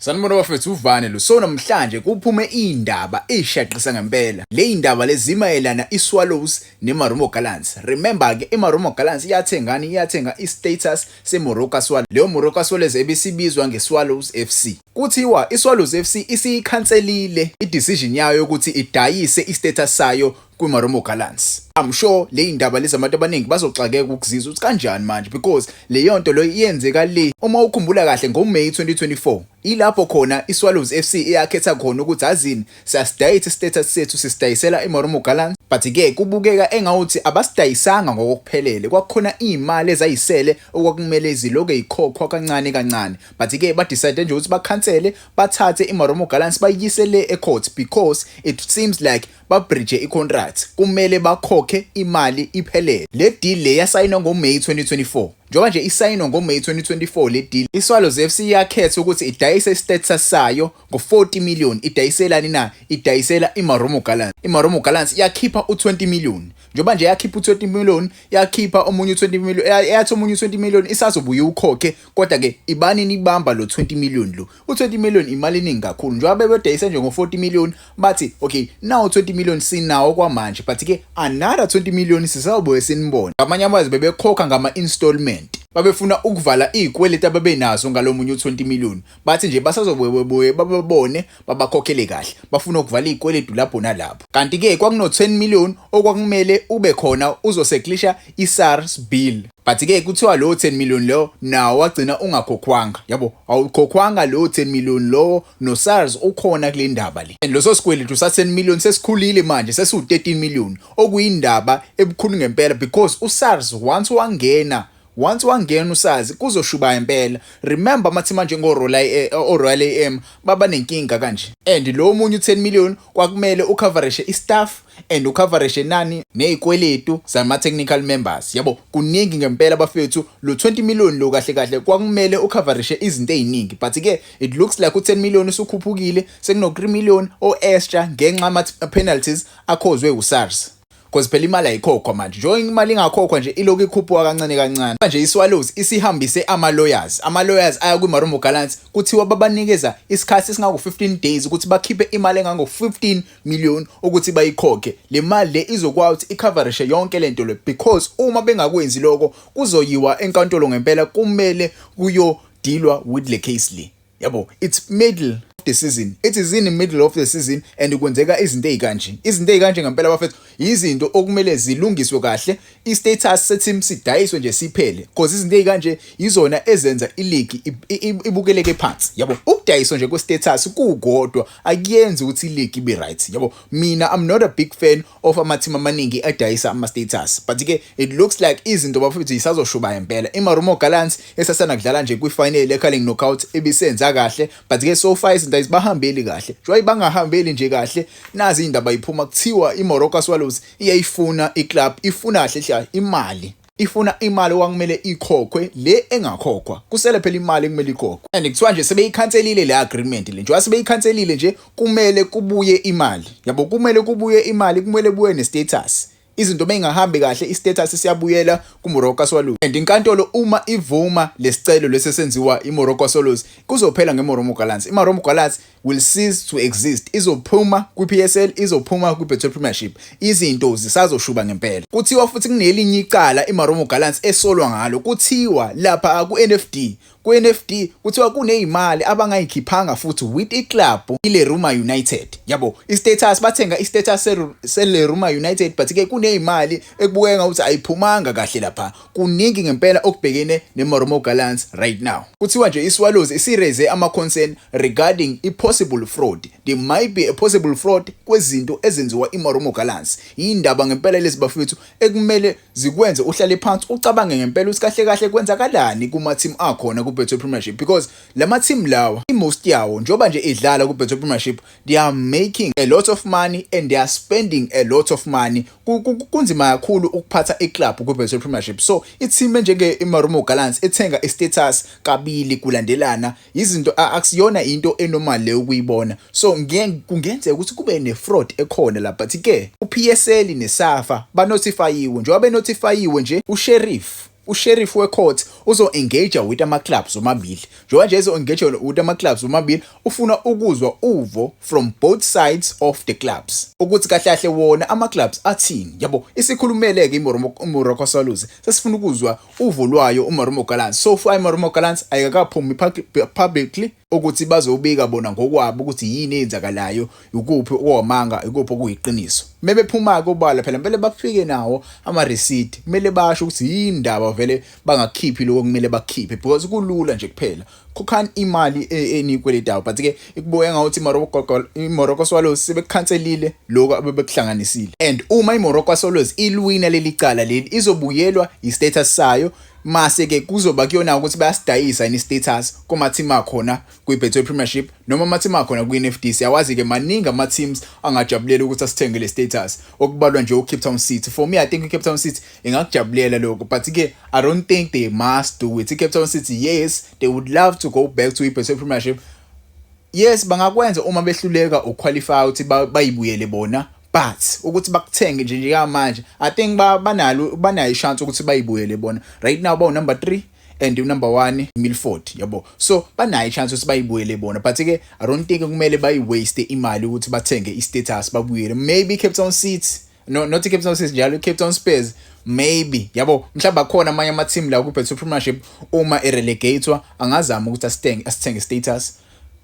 Sanibona bafethu uvane lo so namhlanje kuphume indaba ishaqisa ngempela le indaba lezimayelana iSwallows neMarumo Gallants remember ke iMarumo Gallants iyathengani iyathenga istatus seMoroka Swallows leyo Moroka Swallows ebisibizwa ngeSwallows FC kuthiwa iSwallows FC isiyikhanselile idecision yayo ukuthi idayise istatus sayo kwiMarumo Gallants. I'm sure le indaba lezi abantu abaningi bazoxakeka ukuzizwa ukuthi kanjani manje because leyo nto leyo iyenzeka le uma ukhumbula kahle ngoMay 2024 ilapho khona iSwallows FC eyakhetha khona ukuthi azini siyasidayisa istatus sethu sisidayisela iMarumo Gallants but ke kubukeka engawuthi abasidayisanga ngokuphelele kwakukhona imali ezayisele okwakumele iziloke ikhokhwa kancane kancane but ke ba decide nje ukuthi bakhansele bathathe iMarumo Gallants bayiyisele ecourt because it seems like babhrije icontract kumele bakhokhe imali iphelele le deal le yasayinwa ngoMay 2024 njengoba nje isayinwa ngoMay 2024 le deal iSwallows FC yakhetha ukuthi idayise istatus sayo ngo-40 million idayiselani na idayisela iMarumo Gallants iMarumo Gallants yakhipha u-20 million njengoba nje yakhipha u-20 million yakhipha omunye u-20 million yathi omunye u-20 million isazobuye ukhokhe kodwa ke ibani nibamba lo 20 million lo u-20 million imali eningi kakhulu njengoba bebedayise nje ngo-40 million bathi okay nawo 20 million sinawo kwamanje but ke another 20 million sisazobuye sinibone ngamanye amazwi bebekhokha ngama-installment babefuna ukuvala iy'kweleti ababenazo ngalo munye u-20 million bathi nje basazobuyebuye bababone babakhokhele kahle bafuna ukuvala iy'kweletu lapho nalapho kanti-ke kwakuno-10 million okwakumele ube khona uzoseglisha i-sars bill But ke kuthiwa lowo 10 million lowo nawo wagcina ungakhokhwanga. Yabo, awukhokhwanga lowo 10 million lowo no SARS ukhona kule ndaba le. And loso sikweletu sa 10 million sesikhulile manje sesiwu 13 million okuyindaba ebukhulu ngempela because u SARS once wangena once wangena usazi kuzoshuba impela remember amathi manje ngorola eh, oroyal am baba nenkinga kanje and lo munye u10 million kwakumele ucoverishe istaff and ucoverage enani nezikweletu zama technical members yabo kuningi ngempela bafethu lo 20 million lo kahle kahle kwakumele ucoverage izinto eziningi but ke it looks like u 10 million usukhuphukile sekuno 3 million o extra ngenxa ama penalties akhozwe u SARS cause phela imali ayikhokhwa manje njengoba imali ingakhokhwa nje ilokhu ikhuphuka kancane kancane manje iSwallows isihambise ama-lawyers ama-lawyers aya kwi-marumo gallants kuthiwa babanikeza isikhathi esingango-15 days ukuthi bakhiphe imali engango-15 million ukuthi bayikhokhe le mali le izokwazi ukuthi icoverishe yonke lento le because uma bengakwenzi lokho kuzoyiwa enkantolo ngempela kumele kuyodilwa with le case le yabo it's middle of the season it is in the middle of the season and kwenzeka izinto ezikanje izinto ezikanje ngempela bafethu izinto okumele zilungiswe kahle i status seteam sidayiswe nje siphele because izinto ezikanje izona ezenza ileague ibukeleke phansi yabo ukudayiswa nje kwe status kukodwa akuyenzi ukuthi iligi ibe right yabo mina i'm not a big fan of amateam amaningi adayisa ama-status but ke it looks like izinto bafethu yisazoshuba impela imarumo gallants esasana kudlala nje kwifinale ecarling knockout ebisenza kahle but ke so far izinto ayizibahambeli kahle njengoba ibangahambeli nje kahle nazi indaba iphuma kuthiwa imoroka swallows iyayifuna iclub ifuna kahle hle imali ifuna imali okwakumele ikhokhwe le engakhokhwa kusele phela imali ekumele ikhokhwe and kuthiwa nje sebeyikhanselile le agreement le njengoba sebeyikhanselile nje kumele kubuye imali yabo kumele kubuye imali kumele buye ne-status izinto beyingahambi kahle istatus siyabuyela kuMoroka Swallows and inkantolo uma ivuma lesicelo lesesenziwa iMoroka Swallows kuzophela ngeMoromo Gallants iMoromo Gallants will cease to exist izophuma kwiPSL izophuma kwiBetway Premiership izinto zisazoshuba ngempela kuthiwa futhi kunelinye icala iMarumo Gallants esolwa ngalo kuthiwa lapha kuNFD kuNFD kuthiwa kunezimali abangayikhiphanga futhi with iclub iLeruma United yabo istatus bathenga istatus seLeruma United but ke kunezimali ekubukeka ukuthi ayiphumanga kahle lapha kuningi ngempela okubhekene neMoromo Gallants right now. Kuthiwa nje iSwallows isireze ama-concern regarding i-possible fraud. There might be a possible fraud kwezinto ezenziwa iMoromo Gallants. Yindaba ngempela lezi bafethu ekumele zikwenze uhlale phansi ucabange ngempela ukuthi kahle kahle kwenzakalani kuma-team akhona ku-Betway Premiership because lama-team lawa i-most yawo njengoba nje idlala ku-Betway Premiership they are making a lot of money and they are spending a lot of money kunzima kakhulu ukuphatha iclub kwi-betway premiership so ithime njenge-imarumo gallants ethenga i-status kabili kulandelana yizinto akusiyona into enormal le ukuyibona so kungenzeka ukuthi kube ne-fraud ekhona la but-ke upsl nesafa banotifayiwe njengoba benotifayiwe nje usheriff usheriff wecourt uzo-engager with ama-clubs omabili njengoba nje ezo-engager with ama-clubs omabili ufuna ukuzwa uvo from both sides of the clubs ukuthi kahle kahle wona ama-clubs athini yabo isikhulumele-ke imoromo solus sesifuna ukuzwa uvo lwayo umaromo galans so far imaromo galans ayikakaphumi publicly ukuthi bazobika bona ngokwabo ukuthi yini eyenzakalayo ukuphi okuwamanga ikuphi okuyiqiniso mebephuma-ke obala phela kumele bafike nawo amarisidi kumele basho ukuthi yini ndaba vele bangakhiphi lokho kumele bakhiphe because kulula nje kuphela khokhani imali e-, eniyikweletayo but-ke ikubuke ngawuthi imorocco swallows sebekukhanselile lokho abebekuhlanganisile and uma imorocco swallows ilwina leli cala leli izobuyelwa yi-status sayo Mase ke kuzoba kuyona ukuthi bayasidayisa yini status kuma team akhona kwi Betway Premiership noma ama team akhona kwi NFD siyawazi ke maningi ama teams angajabulela ukuthi asithenge le status okubalwa nje uCape Town City for me I think uCape Town City ingakujabulela lokho but ke I don't think they must do it Cape Town City yes they would love to go back to i Betway Premiership yes bangakwenza uma behluleka ukuqualify ukuthi bayibuyele bona but ukuthi bakuthenge nje njengamanje i think banalo banayo ishance ukuthi bayibuyele bona right now bawu number 3 and unumber 1 Milford yabo so banayo chance ukuthi bayibuyele bona but ke i don't think kumele bayi waste imali ukuthi bathenge i status babuyele maybe Cape Town City no not Cape Town City njalo Cape Town Spurs maybe yabo mhlawumbe akhona amanye ama team la ku Betway Premiership uma e relegatewa angazama ukuthi asithenge asithenge status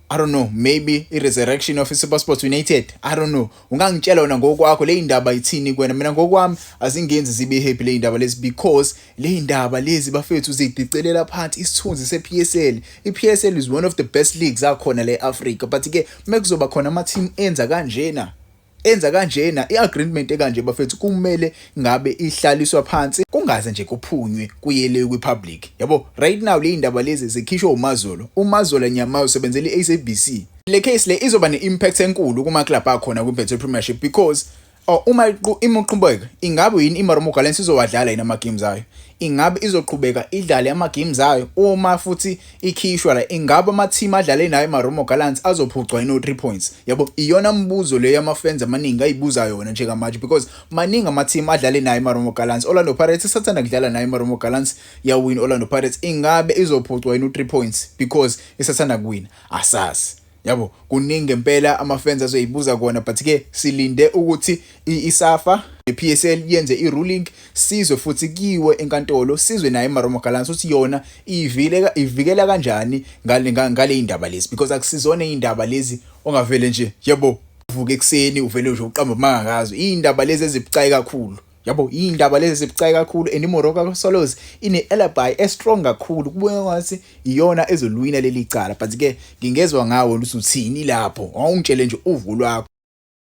I don't know maybe i resurrection of SuperSport United I don't know ungangitshela wena ngokwakho le indaba ithini kwena mina ngokwami azingenzi zibe happy le indaba lezi because le indaba lezi bafethu zidicelela phansi isithunzi sePSL iPSL is one of the best leagues akhona le Africa but ke mekuzoba khona ama team enza kanjena enza kanjena i-agreement ekanje bafethu kumele ngabe ihlaliswa phansi kungaze nje kuphunywe kuyele kwi-public yabo right now le indaba lezi zikhishwa umazolo umazolo nyama usebenzela i-sabc le case le izoba ne-impact enkulu kuma-club akhona kwi-betway premiership because Oh, uma uma uqhubeka ingabe yini iMarumo Gallants izowadlala yini ama-games ayo ingabe izoqhubeka idlale ama-games ayo uma futhi ikhishwa la ingabe ama team adlale nayo Marumo Gallants azophucwa ino 3 points yabo iyona mbuzo leyo ama fans amaningi ayibuza yona nje kamanje because maningi ama team adlale nayo Marumo Gallants Orlando Pirates sathanda kudlala nayo Marumo Gallants ya win Orlando Pirates ingabe izophucwa ino 3 points because isathanda kuwina asazi Yabo kuningi ngempela amafans azoyibuza kona but ke silinde ukuthi iSafa nePSL yenze iruling sizwe futhi kiwe enkantolo sizwe naye iMarumo Gallants uthi yona ivikela ivikela kanjani ngale ngale indaba lezi because akusizona indaba lezi ongavele nje yebo uvuke ekseni uvele nje uqamba mangakazo indaba lezi ezibucayi kakhulu yabo iy'ndaba lezi zibucayi kakhulu and imoroka solos ine-alibi estrong kakhulu kubona ngathi iyona ezolwina leli cala but-ke ngingezwa ngawo luthi uthini lapho wawungitshele nje uvu lwakho